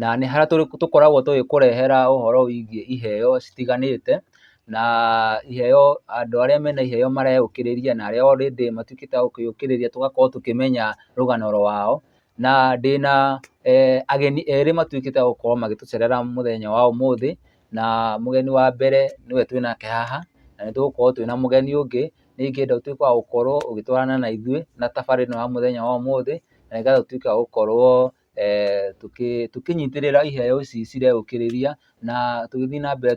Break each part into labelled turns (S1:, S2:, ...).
S1: na nĩ harĩa tũkoragwo tũgĩkũrehera ũhoro wĩgiĩ iheo citiganĩte, na iheo andũ arĩa mena iheo mareyũkĩrĩria na arĩa already matuĩkĩte a kwĩyũkĩrĩria tũgakorwo tũkĩmenya rũgano rwao, na ndĩna ageni erĩ matuĩkĩte a gũkorwo magĩtũcerera mũthenya wa ũmũthĩ, na mũgeni wa mbere nĩwe twĩnake haha, na nĩ tũgũkorwo twĩna mũgeni ũngĩ, nĩ ingĩenda ũtuĩke wa gũkorwo ũgĩtwarana na ithuĩ na thabarĩ ĩno ya mũthenya wa ũmũthĩ, na nĩgetha ũtuĩke wa gũkorwo. eh, tũkĩnyitĩrĩra iheo ici cireũkĩrĩria na tũgĩthiĩ na mbere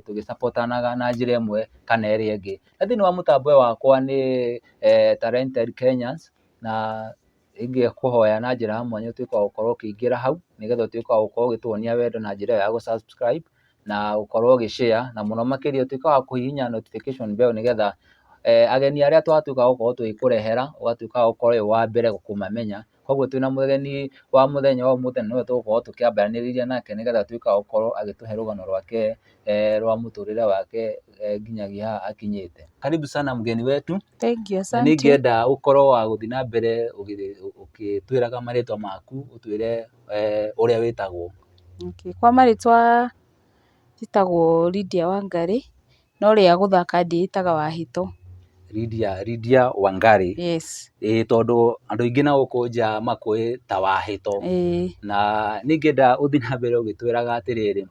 S1: tũgĩcapotanaga na njĩra ĩmwe kana ĩrĩa ĩngĩ. Na thĩinĩ wa mũtambo wakwa nĩ eh, Talented Kenyans na ingĩkũhoya na njĩra ya mwanya ũtuĩke wa gũkorwo ũkĩingĩra hau nĩgetha ũtuĩke wa gũkorwo ũgĩtuonia wendo na njĩra ya gũ-subscribe na gũkorwo ũgĩ-share na mũno makĩria ũtuĩke wa kũhihinya notification bell nĩgetha eh, ageni arĩa twatuĩka gũkorwo tũgĩkũrehera ũgatuĩka gũkorwo wĩ wa mbere kũmamenya. Koguo twĩna mũgeni wa mũthenya wa ũmũthĩ na nĩwe tũgũkorwo tũkĩambaranĩrĩria nake nĩgetha atuĩke wa gũkorwo agĩtũhe rũgano rwake rwa mũtũrĩre wake nginyagia haha akinyĩte. Karibu sana mgeni wetu. Thank you, asante. Na
S2: nĩngĩenda ũkorwo wa
S1: gũthiĩ na mbere ũkĩtwĩraga marĩtwa maku, ũtwĩre ũrĩa wĩtagwo. Okay, kwa
S2: marĩtwa njĩtagwo Lydia Wangarĩ, No rĩa gũthaka ndĩĩtaga wa hitũ. Lydia,
S1: Lydia Wangari. Yes. Ĩĩ
S2: tondũ andũ
S1: aingĩ na gũkũ nja makũũĩ ta wa hitũ. Ĩĩ. Na nĩ ingĩenda ũthiĩ na mbere ũgĩtwĩraga atĩrĩrĩ,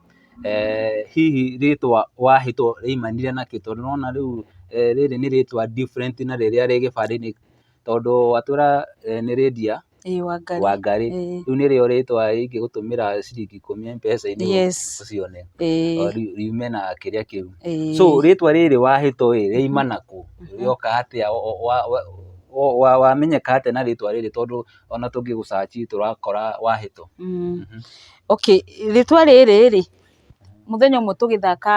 S1: hihi rĩĩtwa wa hitũ rĩaimanire na kĩ? Tondũ nĩ ũrona rĩu rĩrĩ nĩ rĩĩtwa different na rĩrĩa rĩ gĩbandĩ-inĩ. Tondũ watwĩra nĩ Lydia. Wangari, rĩu nĩrĩo rĩtwa ingĩgũtũmĩra ciringi ikũmi M-pesa-inĩ ũcione, yume na kĩrĩa kĩu. So rĩtwa rĩrĩ wahĩtwo ĩ, rĩoima na kũ? Rĩoka atĩa? Wamenyeka atĩa na rĩtwa rĩrĩ tondũ o na tũngĩgũ search tũrakora wahĩtwo?
S2: Okay, rĩtwa rĩrĩ rĩ, mũthenya ũmwe tũgĩthaka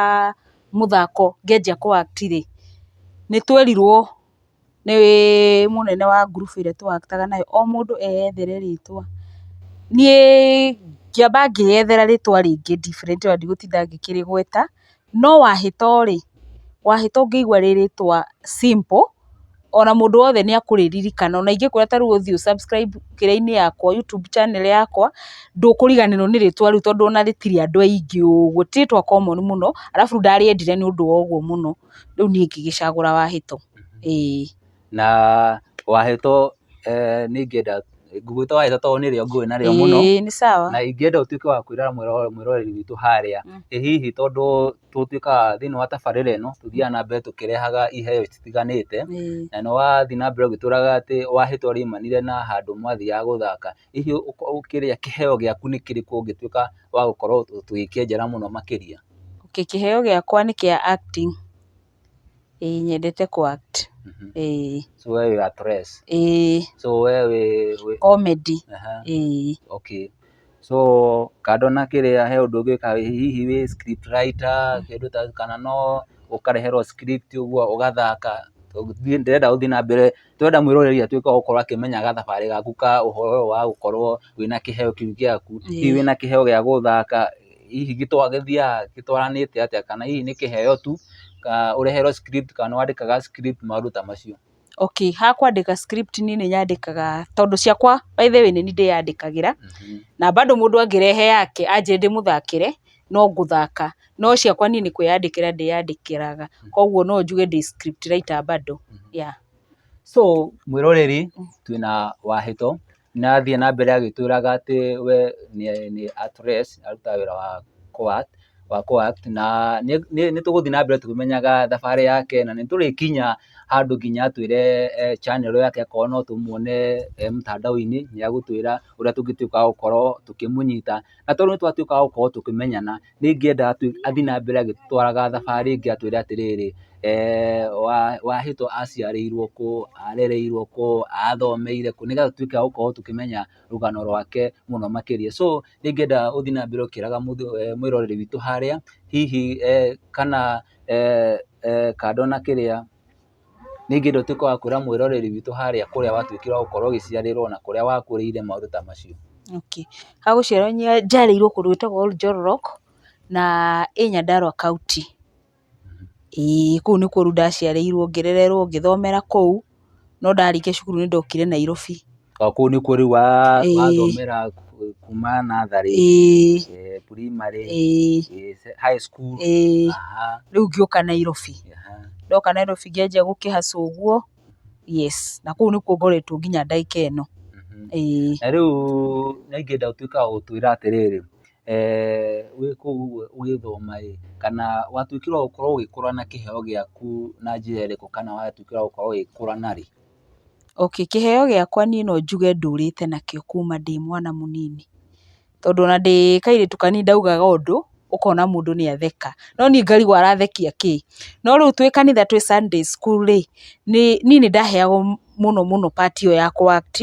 S2: mũthako ngĩanjia kũ act rĩ, nĩ twerirwo nĩ mũnene wa ngurubu ĩrĩa tũ act aga nayo, o mũndũ eyethere rĩtwa, niĩ ngĩamba ngĩyethera rĩtwa rĩngĩ different tondũ ndigũtinda ngĩkĩrĩgweta, no wahĩto rĩ, wahĩto ũngĩigua rĩ rĩtwa simple, ona mũndũ wothe nĩ akũrĩririkana, ona ingĩkwĩra ta rĩu ũthiĩ ũ subscribe kĩrĩa-inĩ yakwa, YouTube channel yakwa, ndũkũriganĩrwo nĩ rĩtwa rĩu tondũ ona rĩtirĩ andũ aingĩ ũguo, ti rĩtwa common mũno, arabu ndarĩendire nĩ ũndũ wa ũguo mũno. rĩu niĩ ngĩgĩcagũra wahĩto. Ĩĩ. Na
S1: wahĩto nĩ ingĩenda, ngũgwĩta wahĩto tondũ nĩrĩo ngũĩ narĩo mũno. Ĩĩ nĩ sawa. Na ingĩenda
S2: ũtuĩke wa
S1: kwĩra mwĩroreri witũ harĩa, ĩ hihi tondũ tũtuĩkaga thĩiniĩ wa tabarĩra ĩno, tũthiaga na mbere tũkĩrehaga iheo citiganĩte, na nĩ wathiĩ na mbere ũgĩtwĩraga atĩ wahĩto riumanire na handũ mwathiaga gũthaka. Hihi ũkĩrĩa kĩheo gĩaku nĩ kĩrĩkũ ũngĩtuĩka wa gũkorwo tũgĩkĩenjera mũno makĩria? Okay kĩheo
S2: gĩakwa nĩ kĩa acting, ĩĩ nyendete kũ act, ĩĩ. So
S1: wee wĩ actress? Ĩĩ. So wee wĩ wĩ? Comedy, ĩĩ. Okay. So kando na kĩrĩa he ũndũ ũngĩ wĩkaga, hihi wĩ script writer, kĩndũ ta kana no ũkareherwo script ũguo ũgathaka? Tondũ niĩ ndĩrenda ũthiĩ na mbere. Tũrenda mwĩroreri atuĩke wa gũkorwo akĩmenya gathabarĩ gaku ka ũhoro ũyũ wa gũkorwo wĩna kĩheo kĩu gĩaku. Hihi wĩna kĩheo gĩa gũthaka, hihi gĩthiaga gĩtwaranĩte atĩa kana hihi nĩ kĩheo tu, ũreherwo script kana wandĩkaga script maũndũ ta macio. Okay, ha
S2: kwandĩka script niĩ nĩ nyandĩkaga tondũ ciakwa by the way nĩ niĩ ndĩyandĩkagĩra, na bado mũndũ angĩrehe yake anjĩre ndĩmũthakĩre, no gũthaka, no ciakwa niĩ nĩ kwĩyandĩkĩra ndĩyandĩkĩraga, koguo no njuge ndĩ script writer bado, yeah.
S1: So mwĩroreri twĩna Wahĩto na athiĩ na mbere agĩtwĩraga atĩ we nĩ actress arutaga wĩra wa kũ act wa kũ act na nĩ tũgũthiĩ na mbere tũkĩmenyaga thabarĩ yake na nĩ tũrĩkinya handũ nginya atwĩre channel yake akorwo no tũmwone e mũtandao-inĩ nĩ egũtwĩra ũrĩa tũngĩtuĩka a gũkorwo tũkĩmũnyita. Na tondũ nĩ twatuĩkaga gũkorwo tũkĩmenyana, nĩ ingĩenda athiĩ na mbere agĩtwaraga thabarĩ ĩngĩ atwĩre atĩrĩrĩ, Wahĩto aciarĩirwo kũ, arereirwo kũ, athomeire kũ, nĩgetha tũtuĩke a gũkorwo tũkĩmenya rũgano rwake mũno makĩria. So nĩ ingĩenda ũthiĩ na mbere ũkĩraga mwĩroreri witũ harĩa hihi kana kando na kĩrĩa. ningĩ ndũtuĩke wa kwĩra mwĩroreri witũ harĩa kũrĩa watuĩkire wa gũkorwo ũgĩciarĩrwo na kũrĩa wakũrĩire maũndũ ta macio. Okay. Ha
S2: gũciarwo njiarĩirwo kũndũ gwĩtagwo Oljolorok, na ĩ Nyandarũa kaũntĩ. Ĩĩ kũu nĩkuo rĩu ndaciarĩirwo ngĩrererwo ngĩthomera kũu, no ndarĩkia cukuru nĩndokire Nairobi. O kũu nĩkuo rĩu
S1: wa Ĩĩ. wathomera ku- kuma natharĩ ĩĩ eh, primary ĩĩ eh, se- high school ĩĩ aha rĩu
S2: ngĩũka nairobi aha ndoka nairobi ngĩanjia gũkĩhaca ũguo yes na kũu nĩkuo ngoretwo nginya ndagĩka ĩno mhm. ĩĩ na
S1: rĩu nĩngĩenda ũtuĩka wa gũtwĩra atĩrĩrĩ eh, wĩ kũu ũguo ũgĩthoma ĩ kana watuĩkire wa gũkorwo ũgĩkũra na kĩheo gĩaku na njĩra ĩrĩkũ kana watuĩkire wa gũkorwo ũgĩkũra narĩ Okay, kĩheo
S2: gĩakwa niĩ no njuge ndũrĩte nakĩo kuuma ndĩ mwana mũnini, tondũ ona ndĩ kairĩtu kanini ndaugaga ũndũ, ũkona mũndũ nĩ atheka, no niĩ ngarigwo arathekia kĩ. No rĩu twĩ kanitha twĩ Sunday school rĩ, niĩ nĩ ndaheagwo mũno mũno part ĩyo ya kũ act.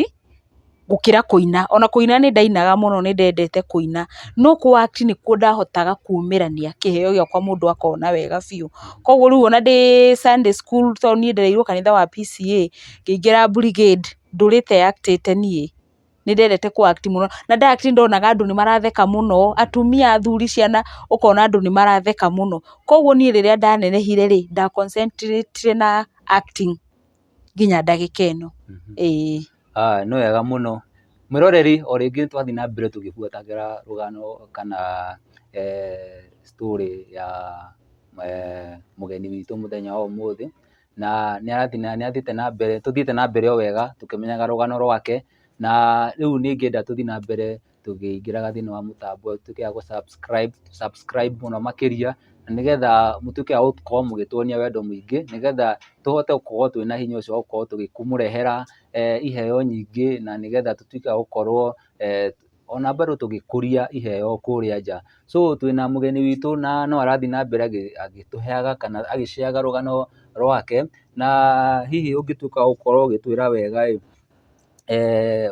S2: gũkĩra kũina. Ona kũina nĩ ndainaga mũno nĩ ndendete kũina, no kũ act nĩkuo ndahotaga kumĩrania kĩheo gĩakwa mũndũ akona wega biũ. Koguo rĩu ona ndĩ Sunday school tondũ niĩ ndereirwo kanitha wa PCEA, ngĩingĩra brigade ndũrĩte act ĩte niĩ. Nĩ ndendete kũ act mũno, na nda act ndonaga andũ nĩ maratheka mũno, atumia, athuri, ciana, ũkona andũ nĩ maratheka mũno. Koguo niĩ rĩrĩa ndanenehire rĩ, nda concentrate ire na acting. nginya ndagĩka ĩno.
S1: Nĩ wega mũno. Mwĩroreri o rĩngĩ nĩ twathiĩ na mbere tũgĩbuatagĩra rũgano kana story ya mũgeni witũ mũthenya wa ũmũthĩ, na nĩ athiĩte na mbere, tũthiĩte na mbere o wega tũkĩmenyaga rũgano rwake, na rĩu nĩ ingĩenda tũthiĩ na mbere. tũkĩingĩraga thĩinĩ wa mũtambo ũtuĩke wa gũ subscribe, tũ subscribe mũno makĩria, na nĩgetha mũtuĩke a gũkorwo mũgĩtuonia wendo mũingĩ, nĩgetha tũhote gũkorwo twĩ na hinya ũcio wa gũkorwo tũgĩkũmũrehera iheo nyingĩ, na nĩgetha tũtuĩke a gũkorwo ona bado tũgĩkũria iheo kũrĩa nja. So twĩna mũgeni witũ na no arathiĩ na mbere agĩtũheaga kana agĩ share ga rũgano rwake, na hihi ũngĩtuĩka wa gũkorwo ũgĩtwĩra wega ĩ,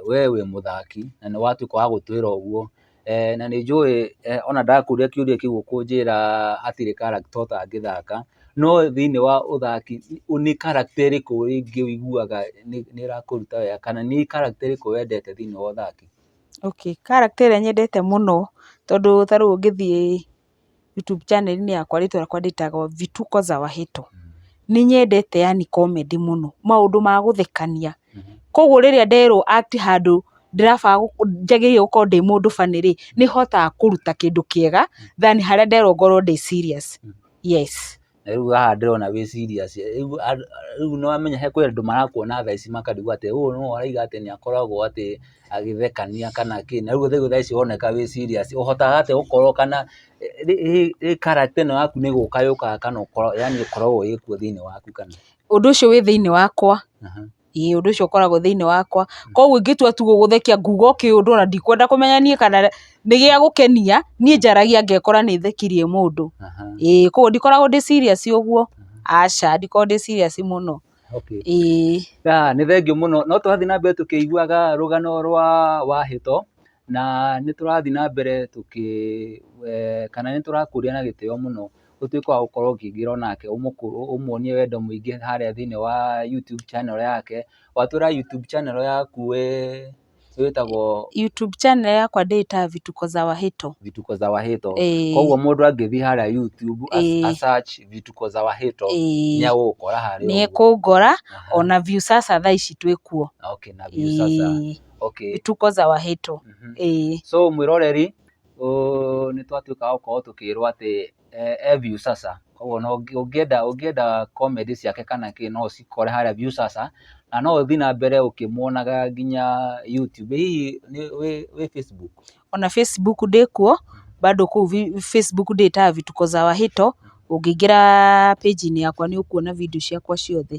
S1: we wĩ mũthaki na nĩ watuĩka wa gũtwĩra ũguo, na nĩ njũĩ ona ndakũria kĩũria kĩu ũkũnjĩra hatirĩ character ũtangĩthaka, no thĩiniĩ wa ũthaki nĩ character ĩrĩkũ rĩngĩ ũiguaga nĩ ĩrakũruta wega kana nĩ character ĩrĩkũ wendete thĩiniĩ wa ũthaki? Okay, character
S2: ĩrĩa nyendete mũno tondũ ta rĩu ũngĩthiĩ YouTube channel -inĩ yakwa rĩtwa rĩakwa ndĩtagwo Vituko za Wahito. Nĩ nyendete yani comedy mũno, maũndũ ma gũthekania. Kũguo rĩrĩa nderwo atĩ handũ ndĩrabaga njagĩrĩire gũkorwo ndĩ mũndũ funny rĩ, nĩ hotaga kũruta kĩndũ kĩega than harĩa nderwo ngorwo ndĩ serious. Yes. Na rĩu haha
S1: ndĩrona wĩ serious. Rĩu nĩ wamenya he kwĩ andũ marakuona thaa ici makarigwo atĩ ũyũ nũũ arauga atĩ nĩ akoragwo atĩ agĩthekania kana kĩ. Na rĩu rĩu thaa ici ũroneka wĩ serious. Ũhotaga atĩa gũkorwo kana hihi character ĩno yaku nĩ gũka yũkaga kana ũkoragwo yaani ĩkoragwo ĩĩ kuo thĩinĩ waku kana? Ũndũ ũcio wĩ thĩinĩ
S2: wakwa. ĩĩ ũndũ ũcio ũkoragwo thĩinĩ wakwa, koguo ingĩtua tu gũgũthekia nguga o kĩũndũ ona ndikwenda kũmenya niĩ kana nĩ gĩa gũkenia, niĩ njaragia ngekora nĩ thekirie mũndũ, ĩĩ koguo ndikoragwo ndĩ serious ũguo, aca ndikoragwo ndĩ serious mũno, ĩĩ. Nĩ thengiũ mũno,
S1: no tũrathiĩ na mbere tũkĩiguaga rũgano rwa Wahĩto, na nĩ tũrathiĩ na mbere tũkĩ kana nĩ tũrakũria na gĩtĩo mũno. ũtuĩke wa gũkorwo ũkĩingĩra onake ũmuonie wendo mũingĩ harĩa thĩinĩ wa YouTube channel yake. Watũra YouTube channel yaku wĩ wĩtagwo? YouTube channel
S2: yakwa ndĩĩtaga Vituko za Wahĩto. Vituko za Wahĩto.
S1: Ĩĩ. Kwoguo mũndũ angĩthiĩ harĩa YouTube Ĩĩ. a search Vituko za Wahĩto Ĩĩ. nĩ egũgũkora harĩa Nĩ ũguo. ekũngora,
S2: Aha. ona Viusasa thaa ici twĩ kuo. Okay, na Viusasa. Ĩĩ.
S1: Okay. Vituko
S2: za Wahĩto. Mhm. Ĩĩ. So
S1: mwĩroreri, nĩ twatuĩkaga gũkorwo tũkĩrwo atĩ e Viusasa, koguo ũngĩenda ũngĩenda comedy ciake kana kĩ no ũcikore harĩa Viusasa, na no ũthiĩ na mbere ũkĩmuonaga nginya YouTube, hihi wĩ Facebook? Ona Facebook
S2: ndĩ kuo, bado kũu Facebook ndĩĩtaga Vituko za Wahito, ũngĩingĩra page -inĩ yakwa nĩ ũkuona video ciakwa ciothe.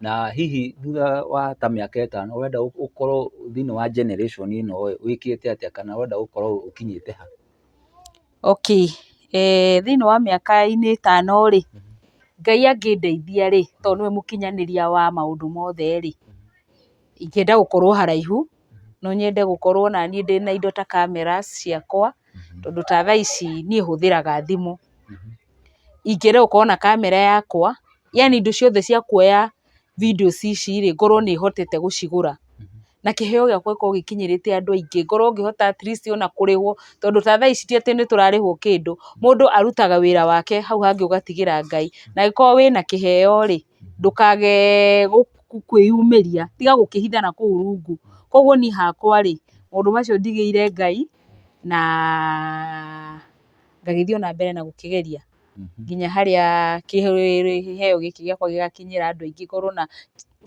S1: na hihi thutha wa ta mĩaka ĩtano ũrenda ũkorwo thĩinĩ wa generation ĩno ĩ, wĩkĩte atĩa kana ũrenda gũkorwo ũkinyĩte ha? Okay,
S2: thĩinĩ wa mĩaka-inĩ ĩtano rĩ, Ngai angĩndeithia rĩ, tondũ nĩwe mũkinyanĩria wa maũndũ mothe rĩ, ingĩenda gũkorwo haraihu, no nyende gũkorwo o na niĩ ndĩ na indo ta cameras ciakwa, tondũ ta thaa ici niĩ hũthĩraga thimũ. Ingĩenda gũkorwo na camera yakwa. yaani indo ciothe cia kuoya videos ici rĩ, ngorwo nĩ hotete gũcigũra, na kĩheo gĩakwa gĩkorwo gĩkinyĩrĩte andũ aingĩ, ngorwo ngĩhota at least ona kũrĩhwo, tondũ ta thaa ici ti atĩ nĩ tũrarĩhwo kĩndũ, mũndũ arutaga wĩra wake, hau hangĩ ũgatigĩra Ngai, na angĩkorwo wĩna kĩheo rĩ, ndũkage kwĩyumĩria, tiga gũkĩhitha na kũu rungu, koguo niĩ hakwa rĩ, maũndũ macio ndigĩire Ngai, na ngagĩthiĩ ona mbere na gũkĩgeria. nginya harĩa kĩheo gĩkĩ gĩakwa gĩgakinyĩra andũ aingĩ ngorwo na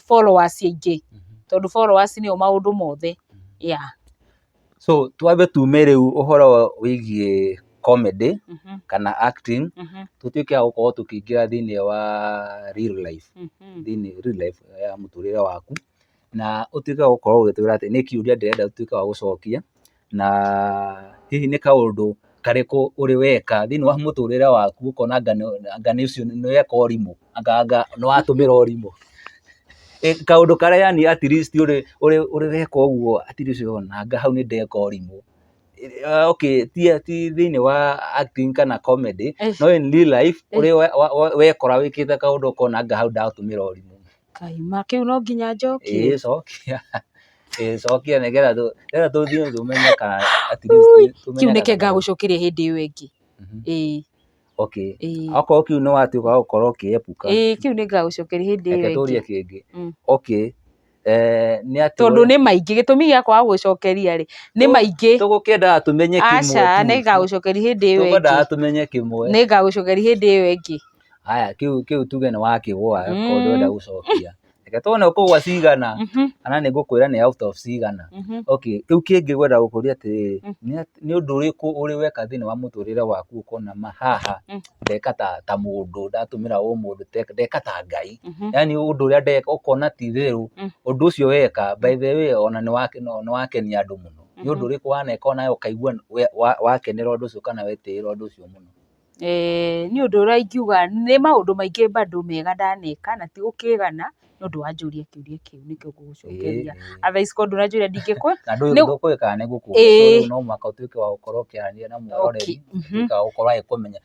S2: followers aingĩ, tondũ followers nĩyo maũndũ mothe, yeah.
S1: So twambe tume rĩu ũhoro wĩgiĩ comedy kana acting, tũtuĩke a gũkorwo tũkĩingĩra thĩinĩ wa real life, thĩinĩ real life ya mũtũrĩre waku, na ũtuĩke wa gũkorwo ũgĩtwĩra atĩ nĩ kĩũria ndĩrenda ũtuĩke wa gũcokia. na hihi nĩ kaũndũ karĩkũ ũrĩ weka thĩinĩ wa mũtũrĩre waku ũkona anga nĩ ũcio nĩ weka ũrimũ, anga anga nĩ watũmĩra ũrimũ. Kaũndũ karĩa yani at least ũrĩ ũrĩ ũrĩ weka ũguo at least ũkona anga hau nĩ ndeka ũrimũ. Okay ti ti thĩinĩ wa acting kana comedy no in real life ũrĩ wekora wĩkĩte kaũndũ ũkona anga hau ndatũmĩra ũrimũ. Kaima, kĩu no
S2: nginya njokie? Ĩĩ cokia,
S1: ĩĩ cokia nĩgetha tũ, nĩgetha tũthiĩ tũmenye kana at least Ũi, tũmenye kĩu reke kana- ngagũcokeria
S2: hĩndĩ ĩyo ĩngĩ. Mhm. Ĩĩ, Okay. ĩĩ.
S1: Okorwo kĩu nĩ watuĩka wa gũkorwo ũkĩepuka, Ĩĩ, kĩu nĩ ngagũcokeria
S2: hĩndĩ reke ĩyo tũrie ĩngĩ. kĩngĩ. Mm.
S1: Okay. Eh, nĩ
S2: atĩ Tondũ we- nĩ maingĩ, gĩtũmi gĩa kwaga gũgũcokeria rĩ, nĩ Tũ- maingĩ. tũgũkĩendaga tũmenye kĩmwe
S1: Aca, tu. nĩ ngagũcokeria
S2: hĩndĩ ĩyo Tũkwendaga ĩngĩ. tũmenye kĩmwe.
S1: Nĩ ngagũcokeria hĩndĩ
S2: ĩyo ĩngĩ. haya kĩu kĩu
S1: tuge nĩ wakĩgwa Mm. mm. kondo enda gũcokia reke tuone ũkũgwa cigana Mhm, kana nĩ ngũkwĩra nĩ out of cigana mhm. okay kĩu kĩngĩ gwenda gũkũria atĩrĩrĩ Mm. nĩ at- nĩ ũndũ ũrĩkũ ũrĩ weka thĩinĩ wa mũtũrĩre waku ũkona ma haha Mm. ndeka ta ta mũndũ ndatũmĩra ũ mũndũ te- ndeka ta ngai Mhm. yani ũndũ ũrĩa ndeka ũkona ti therũ Mm. ũndũ ũcio weka by the way ona nĩ wake- no- nĩ wakenia andũ mũno nĩ ũndũ Mhm. ũrĩkũ waneka onawe ũkaigua we- wa- wakenera ũndũ ũcio kana wetĩĩra ũndũ ũcio mũno Niĩ
S2: ũndũ ũrĩa ingiuga, nĩ maũndũ maingĩ bado mega ndaneka na ti gũkĩgana nĩ ũndũ wanjũria kĩũria kĩu nĩkĩo ngũgũcokeria. Otherwise korwo ndũranjũria ndingĩkũ. Na ndũĩ ndũkũũĩ kana
S1: nĩ ngũkũria tondũ no mũhaka ũtuĩke wa gũkorwo ũkĩaria na mũroreri, ũtuĩke wa gũkorwo agĩkũmenya.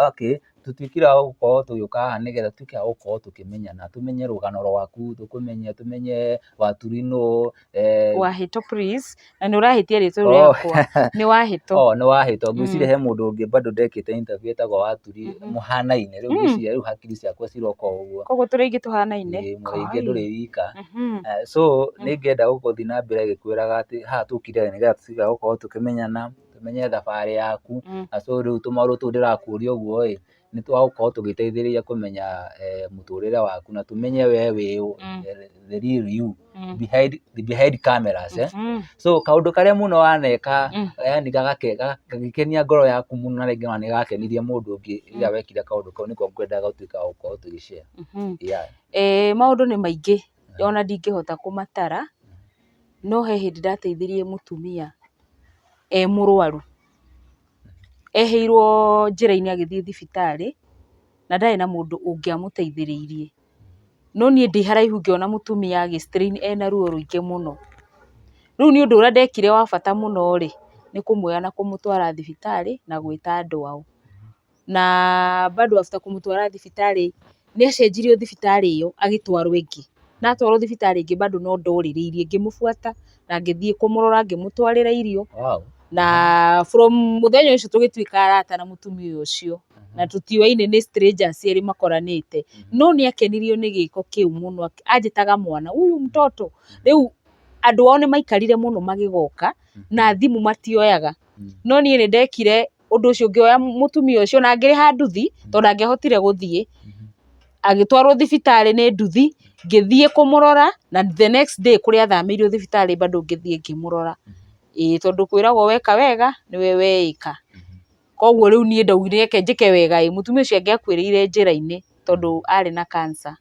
S1: Okay, tũtuĩkire a gũkorwo tũgĩũka haha nĩgetha tũtuĩke a gũkorwo tũkĩmenyana, tũmenye rũgano rwaku, tũkũmenye, tũmenye waturi nũũ, Eh, wahĩto
S2: please na nĩ ũrahĩtia rĩtwa Oh. rĩakwa nĩ wahĩto oh, nĩ wahĩtwo ngwĩciria he mũndũ
S1: ũngĩ bado ndekĩte interview etagwo waturi Mhm. mũhanaine rĩu Mm. ngwĩciria rĩu hakiri ciakwa ciroka o ũguo koguo tũrĩ aingĩ tũhanaine
S2: Ĩĩ, mũrĩ aingĩ Kai. ndũrĩ wika
S1: Mhm. Eh, so Mm. nĩ ngenda gũgũthiĩ na mbere gĩkwĩraga atĩ haha tũkire nĩgetha tũtiga gũkorwo tũkĩmenyana tũmenye thabarĩ yaku Mhm. na so rĩu tũmaũndũ tũu ndĩrakũria ũguo ĩ nĩ twagũkorwo tũgĩteithĩrĩria kũmenya eh, mũtũrĩre waku na tũmenye we wĩ ũ, Mm. eh, the real you Mm. behind, behind cameras eh? Mm. so kaũndũ karĩa mũno waneka Mm. yani gagake- ga- gagĩkenia ngoro yaku mũno na rĩngĩ ona nĩ gakenirie mũndũ ũngĩ rĩrĩa wekire kaũndũ kau nĩko ngwendaga gũtuĩka wa gũkorwo tũgĩcare Mhm. yeah.
S2: Eh, maũndũ nĩ maingĩ ona ndingĩhota kũmatara no he hĩndĩ ndateithirie mũtumia e mũrwaru ehĩirwo njĩra-inĩ agĩthiĩ thibitarĩ, na ndarĩ na mũndũ ũngĩamũteithĩrĩirie, no niĩ ndĩ haraihu ngĩona mũtumia agĩ strain ena ruo rũingĩ mũno, rĩu niĩ ũndũ ũrĩa ndekire wa bata mũno rĩ, nĩ kũmuoya na kũmũtwara thibitarĩ na gwĩta andũ ao. na bado after kũmũtwara thibitarĩ, nĩ acenjirio thibitarĩ ĩyo agĩtwarwo ĩngĩ, na atwarwo thibitarĩ ĩngĩ bado no ndorĩrĩirie ngĩmũbuata na ngĩthiĩ kũmũrora ngĩmũtwarĩra irio, na from mũthenya ũcio tũgĩtuĩka arata na mũtumia ũcio, na tũtiũaine nĩ strangers erĩ makoranĩte, no nĩ akenirio nĩ gĩko kĩu mũno, anjĩtaga mwana, huyu mtoto, rĩu andũ ao nĩ maikarire mũno magĩgoka, na thimũ matioyaga, no niĩ nĩ ndekire ũndũ ũcio ũngĩoya mũtumia ũcio na angĩrĩha nduthi tondũ ndangĩahotire gũthiĩ, agĩtwarwo thibitarĩ nĩ nduthi, ngĩthiĩ kũmũrora na the next day kũrĩa athamĩirio thibitarĩ bado ngĩthiĩ ngĩmũrora. Ĩĩ tondũ kwĩragwo weka wega nĩwe weĩka. Koguo rĩu niĩ ndaugire reke njĩke wega ĩ, mũtumia ũcio angĩakuĩrĩire njĩra-inĩ tondũ arĩ na cancer.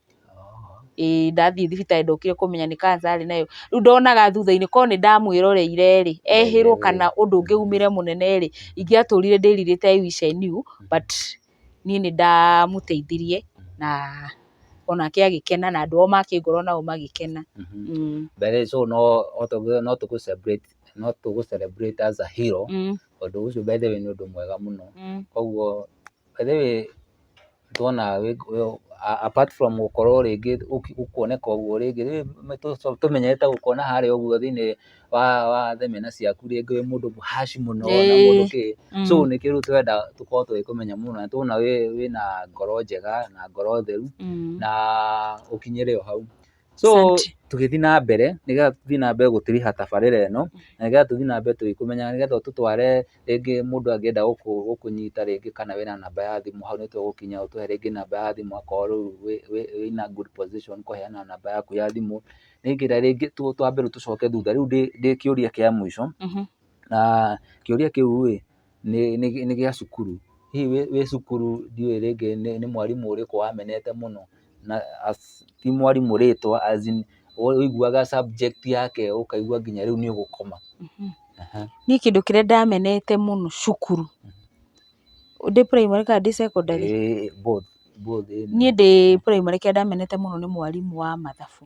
S2: ĩĩ ndathiĩ thibitarĩ ndokire kũmenya nĩ cancer arĩ nayo, rĩu ndonaga thutha-inĩ korwo nĩ ndamwĩroreire rĩ, ehĩrwo kana ũndũ ũngĩ umĩre mũnene rĩ, ingĩatũrire ndĩrirĩte I wish I knew but niĩ nĩ ndamũteithirie na onake agĩkena na andũ ao make ngoro nao magĩkena. By the way
S1: so no tũgũ celebrate no tũgũ celebrate as a hero, ũndũ ũcio by the way nĩ ũndũ mwega mũno, koguo by the way... nĩtwona apart from gũkorwo rĩngĩ gũkuoneka ũguo rĩngĩ, nĩtũmenyerete gũkuona harĩa ũguo thĩinĩ wa wa themena ciaku rĩngĩ wĩ mũndũ mũhash mũno na mũndũ kĩ, so nĩ kĩndũ tũrenda tũkorwo tũgĩkũmenya mũno na nĩtũrona wĩ wĩna ngoro njega na ngoro theru na ũkinyĩre o hau. So Asante. tũgĩthiĩ na mbere nĩgetha tũthiĩ na mbere gũtiriha tabarĩra ĩno na nĩgetha tũthiĩ na mbere tũgĩkũmenyaga nĩgetha ũtũtware rĩngĩ mũndũ angĩenda gũkũ gũkũnyita rĩngĩ kana wĩna namba ya thimũ hau nĩtũgũkinya ũtũhe rĩngĩ namba ya thimũ akorwo rĩu wĩ wĩ wĩna good position kũheana namba yaku ya thimũ nĩgetha rĩngĩ tũ twambe rĩu tũcoke thutha rĩu ndĩ ndĩ kĩũria kĩa mũico Mhm. na kĩũria kĩu ĩ nĩ gĩa cukuru. Hihi wĩ cukuru ndiũĩ rĩngĩ nĩ mwarimũ ũrĩkũ wamenete mũno, na ti mwarimũ rĩtwa as in ũiguaga subject yake ũkaigua nginya rĩu nĩ ũgũkoma.
S2: Niĩ kĩndũ kĩrĩa ndamenete mũno cukuru, ndĩ primary kana ndĩ secondary? Both.
S1: Niĩ ndĩ
S2: primary kĩrĩa ndamenete mũno nĩ mwarimũ wa mathabu,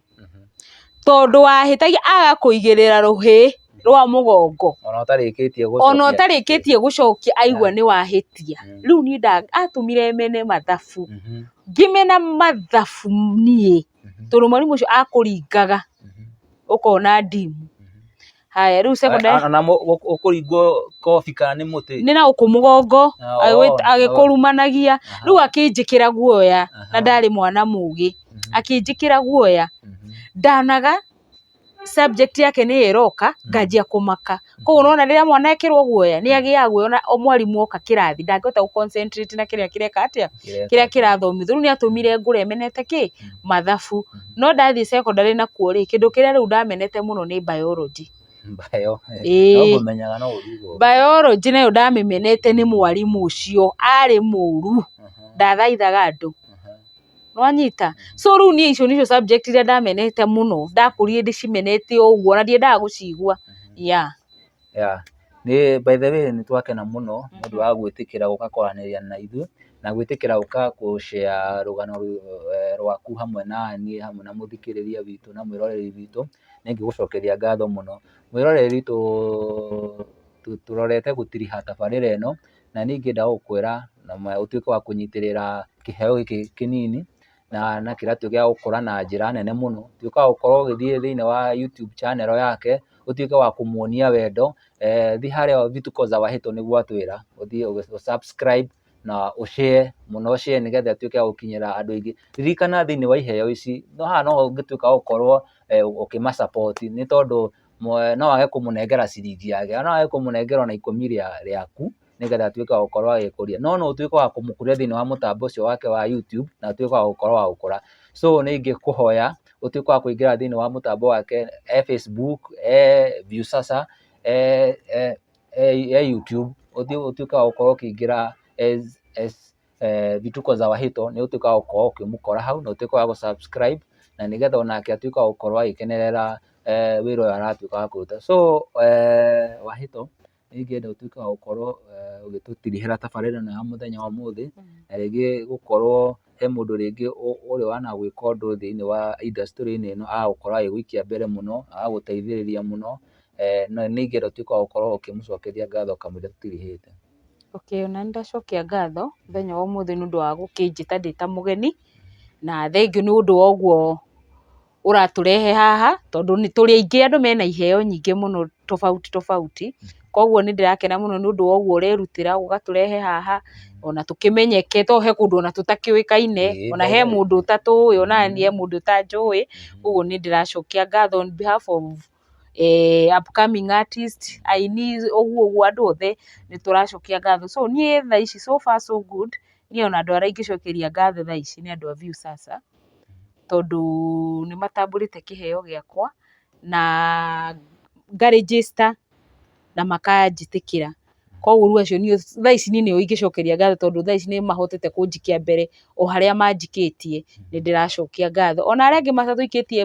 S2: tondũ wahĩtagia agakũigĩrĩra rũhĩ rwa mũgongo, ona ũtarĩkĩtie gũcokia aigua nĩ wahĩtia, rĩu niĩ atũmire mene mathabu, ngĩmena mathabu niĩ, tondũ mwarimũ ũcio akũringaga ũkona ndimu. haya rĩu secondary Ana- ana mũ- gũ- ũkũringwo
S1: kobi kana nĩ mũtĩ nĩ na gũkũ mũgongo
S2: Ah, agĩgwĩ- oh, agĩkũrumanagia Aha. rĩu akĩnjĩkĩra guoya na Aha. ndarĩ mwana mũgĩ Mhm. akĩnjĩkĩra guoya Mhm. ndanaga subject yake nĩ ĩroka nganjia kũmaka koguo ũrona rĩrĩa mwana ekĩrwo guoya nĩ agĩaga guoya ona o mwarimũ oka kĩrathi ndangĩhota gũ concentrate na kĩrĩa kĩreka atĩa kĩrĩa kĩrathomithio, rĩu nĩ atũmire ngũre menete kĩ? Mathabu. No ndathiĩ cekondarĩ nakuo rĩ, kĩndũ kĩrĩa rĩu ndamenete mũno nĩ Biology. Ĩĩ. Biology nayo ndamĩmenete nĩ mwarimũ ũcio, arĩ mũũru, ndathaithaga andũ. Nĩ wanyita? So rĩu niĩ icio nĩcio subject irĩa ndamenete mũno, ndakũrire ndĩcimenete o ũguo, ona ndiendaga gũcigua. Yeah. Yeah.
S1: Nĩ by the way nĩ twakena mũno nĩ ũndũ wa gwĩtĩkĩra gũka kwaranĩria na ithuĩ na gwĩtĩkĩra gũka gũcea rũgano eh, rwaku hamwe na niĩ hamwe na mũthikĩrĩria witũ na mwĩroreri witũ nĩ ngĩgũcokeria ngatho mũno mwĩroreri witũ tu- tũrorete gũtiriha tabarĩra ĩno na ningĩ ndagũkwĩra na ma- ũtuĩke wa kũnyitĩrĩra kĩheo gĩkĩ kĩnini na kĩratũ gĩa gũkũra na njĩra nene mũno, tuĩka wa gũkorwo ũgĩthiĩ thĩinĩ wa YouTube channel yake, ũtuĩke wa kũmuonia wendo, thiĩ harĩa Vitu kwa Uza wa Heto nĩguo atwĩra, ũthiĩ ũ subscribe na ũ share mũno ũ share nĩgetha ĩtuĩke ya gũkinyĩra andũ aingĩ. Ririkana thĩinĩ wa iheo ici, haha no ho ũngĩtuĩka wa gũkorwo ũkĩma support nĩ tondũ no wage kũmũnengera ciringi yake, no wage kũmũnengera ona ikũmi rĩaku. nĩgetha atuĩke wa gũkorwo agĩkũria. No no ũtuĩke wa kũmũkũria thĩinĩ wa mũtambo ũcio wake wa YouTube na atuĩke wa gũkorwo wa gũkũra. So nĩ ingĩkũhoya ũtuĩke wa kũingĩra thĩinĩ wa mũtambo wake e Facebook, e Viusasa, e, e, e, e YouTube, ũthiĩ ũtuĩke wa gũkorwo ũkĩingĩra as, as eh, Vituko za Wahito, nĩ ũtuĩke wa gũkorwo ũkĩmũkora hau na ũtuĩke wa gũ-subscribe na nĩgetha onake atuĩke wa gũkorwo agĩkenerera eh, wĩra ũyũ aratuĩka wa kũruta. So eh, Wahito, nĩ ingĩenda ũtuĩke wa gũkorwo ũgĩtũtirihĩra tabarĩra ĩno ya mũthenya wa ũmũthĩ, na rĩngĩ gũkorwo he mũndũ rĩngĩ ũrĩ wanagwĩka ũndũ thĩiniĩ wa industry-inĩ ĩno agagũkorwo agĩgũikia mbere mũno, agagũteithĩrĩria mũno, na nĩ ingĩenda ũtuĩke wa gũkorwo ũkĩmũcokeria ngatho kamũira tũtirihĩte. Okay, ona niĩ
S2: ndacokia ngatho mũthenya wa ũmũthĩ nĩ ũndũ wa gũkĩnjĩta ndĩ ta mũgeni, na thengiũ nĩ ũndũ wa ũguo. ũratũrehe haha, tondũ nĩ tũrĩ aingĩ andũ mena iheo nyingĩ mũno tofauti tofauti, koguo nĩ ndĩrakena mũno nĩ ũndũ wa ũguo ũrerutĩra ũgatũrehe haha, ona tũkĩmenyeke tondũ he kũndũ ona tũtakĩũĩkaine, ona he mũndũ ũtatũĩ, ona niĩ he mũndũ ũtanjũĩ, ũguo nĩ ndĩracokia ngatho on behalf of upcoming artist, aini ũguo ũguo andũ othe nĩ tũracokia ngatho. So niĩ thaa ici so far so good, niĩ ona andũ arĩa ingĩcokeria ngatho thaa ici nĩ andũ a Viusasa, tondũ nĩ matambũrĩte kĩheo gĩakwa, na nga register na makanjĩtĩkĩra. Kũguo rĩu acio nĩo, thaa ici niĩ nĩo ingĩcokeria ngatho tondũ thaa ici nĩ mahotete kũnjikia mbere o harĩa manjikĩtie, nĩ ndĩracokia ngatho. Ona arĩa angĩ matatũikĩtie...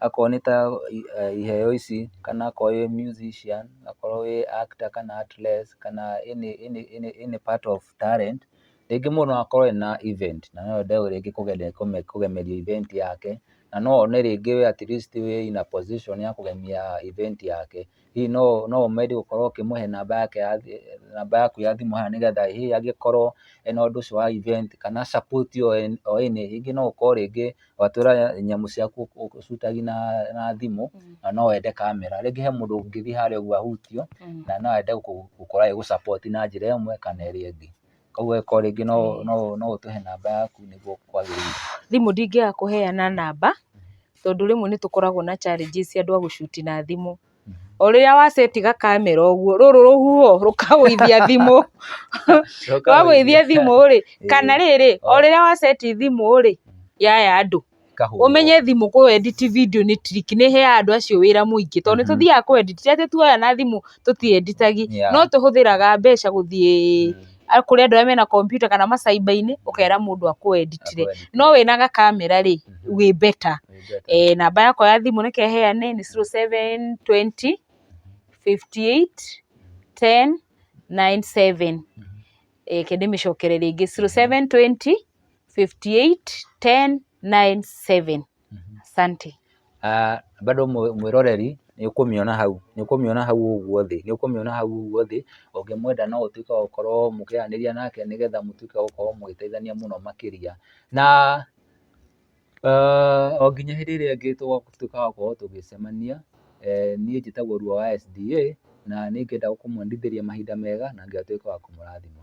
S1: akorwo nĩ ta iheo ici kana akorwo wĩ musician, akorwo wĩ actor kana actress kana any any any part of talent, rĩngĩ mũndũ no akorwo ena event na no ende rĩngĩ kũgemeria event yake, na no one rĩngĩ we atleast wĩ in a position ya kũgemia event yake, hihi no ũmende gũkorwo ũkĩmũhe namba yake ya thimũ, namba yaku ya thimũ haha nĩgetha hihi angĩkorwo ena ũndũ ũcio wa event kana support o any rĩngĩ no ũkorwo rĩngĩ watũra nyamũ ciaku ũ shoot agi na thimũ na no wende kamera, rĩngĩ he mũndũ ũngĩthiĩ harĩa ũguo ahutio na no ende gũkorwo agĩgũ support na njĩra ĩmwe kana ĩrĩa ĩngĩ. Koguo angĩkorwo rĩngĩ no ũtũhe namba yaku nĩguo kwagĩrĩire. Thimũ ndingĩaga
S2: kũheana namba, tondũ rĩmwe nĩ tũkoragwo na challenges cia andũ a gũcuti na thimũ. O rĩrĩa wa set ga camera ũguo, rũrũ rũhuho rũkagũithia thimũ, rwagũithia thimũ rĩ, kana rĩrĩ, o rĩrĩa wa set thimũ rĩ, yaya andũ. ĩkahũrwo. Ũmenye thimũ kũ edit video nĩ trick, nĩ ĩheaga andũ acio wĩra mũingĩ. To nĩ tũthiaga kũ edit, ti atĩ tuoya na thimũ tũti edit agi, no tũhũthĩraga mbeca gũthiĩ kũrĩ andũ arĩa mena kompiuta kana ma cyber -inĩ, ũkera mũndũ akũ edit ĩre. No wĩna ga camera rĩ, wĩ better. Namba yakwa ya thimũ reke heyane nĩ zero seven twenty fifty eight ten nine seven. Reke ndĩmĩcokere rĩngĩ, zero, seven, twenty, fifty eight, ten, nine, seven. Asante. Ah,
S1: bado mwe- mwĩroreri nĩ ũkũmĩona hau nĩ ũkũmĩona hau ũguo thĩ nĩ ũkũmĩona hau ũguo thĩ ũngĩmwenda no ũtuĩke wa gũkorwo mũkĩaranĩria nake nĩgetha mũtuĩke wa gũkorwo mũgĩteithania mũno makĩria na O nginya hĩndĩ ĩrĩa ĩngĩ tũgatuĩka a gũkorwo tũgĩcemania, niĩ njĩtagwo Ruo wa SDA, na nĩ ngenda kũmwendithĩria mahinda mega na Ngai atuĩke wa kũmũrathima.